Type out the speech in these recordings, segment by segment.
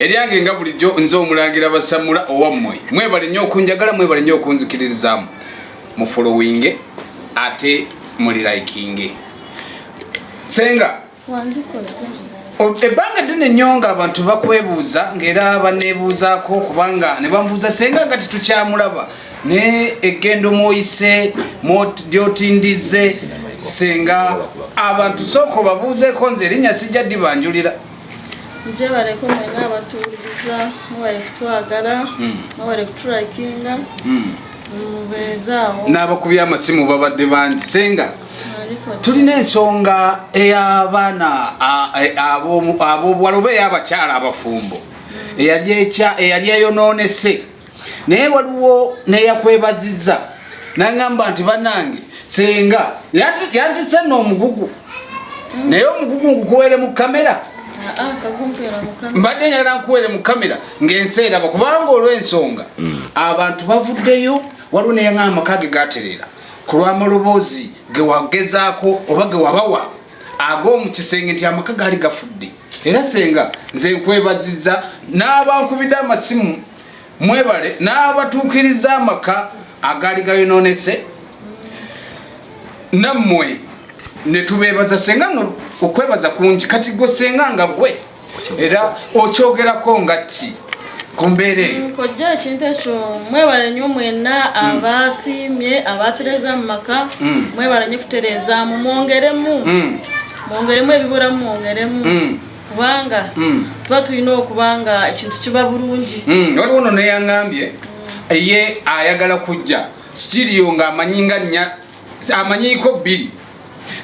eryange nga bulijjo nze omulangira basamula owammwe mwebale nnyo okunjagala mwebale nnyo okunzikiririzaamu mufolowinge ate muli likinge senga ebbanga ddene nnyo nga abantu bakwebuuza ngaera banebuuzaako kubanga ne bamubuuza senga nga tetukyamulaba ne egendo mwoyise lyotindize senga abantu sooka obabuuzeeko nze erinnya sijja dibanjulira njebaleko mwena abatuwuliriza mwebale kutwagala hmm. mwebale kutulakinga hmm. mubeezaawo n'abakubya amasimu babadde bangi senga tulina ensonga ey'abaana ab'obuwala oba ey'abakyala abafumbo hmm. eyali eyonoonese naye waliwo neyakwebazizza nangamba nti banange senga yantise no omugugu naye omugugu ngukuwere mu kamera ah, ah, mbadde nyala nkuwere mu kamera ngaensi eraba kubanga olwensonga hmm. abantu bavuddeyo waliwo neyanga amaka ge gaterera ku lwamaloboozi gewagezaako oba gewabawa ag'omu kisenge nti amaka gaali gafudde era senga nze nkwebaziza n'abankubidde amasimu mwebale n'abatuukiriza amaka agaali gayonoonese nammwe ne tubeebaza senga no okwebaza kungi kati gwe senga nga gwe era okyogerako nga ki ku mbeera eyo mm, kojja ekintu ekyo mwebale nnyo mwenna mm. abaasiimye abaatereeza mu maka mm. mwebale nnyo kutereezaamu mwongeremu mwongeremu ebibulamu mwongeremu kubanga mm. tuba tulina okuba nga ekintu kiba bulungi mm. waliwo no neyangambye mm. ye ayagala kujja sitirio nga amanyi nga nya amanyiko bbiri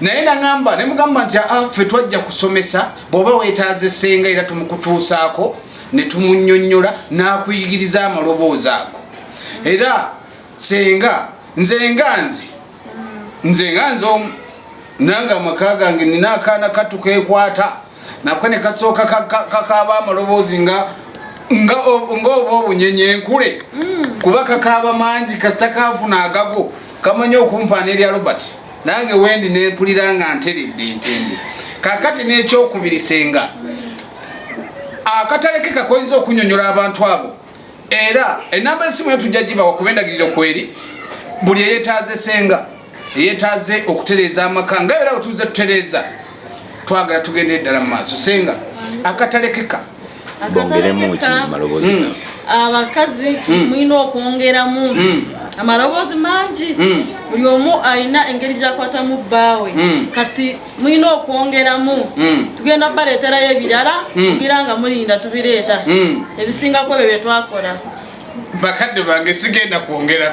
naye nagamba nemugamba nti aa ah, fe twajja kusomesa bwoba wetaaze senga era tumukutuusaako ne tumunyonyola n'akuyigiriza amaloboozi ago era senga nze nga nze nze nga nze omu nange amaka gange nina akaana katu kekwata nako ne kasooka kakaaba amaloboozi nga nga oba obunyenye enkule mm. kuba kakaaba mangi kasita kaafuna agago kamanyi okumpaana erya robert nange wendi nempulira nga nteredde ntende kakati n'ekyokubiri senga akatalekeka koyinza okunyonyola abantu abo era enamba esimu yo tujja gibawa kuba endagiriro kweri buli eyetaaze senga eyetaaze okutereeza amaka nga era wetuuze tutereeza twagala tugende eddala mu maaso senga akatalekeka hmm. abakazi hmm. mulina okwongeramu hmm. amaloboozi mangi buli omu alina engeri gyakwatamu bbaawe kati mulina okwongeramu mm. tugenda baleeterayo ebirala mm. kugira nga mulinda tubireeta mm. ebisingako ebyo byetwakola bakadde bange sigenda kwongerako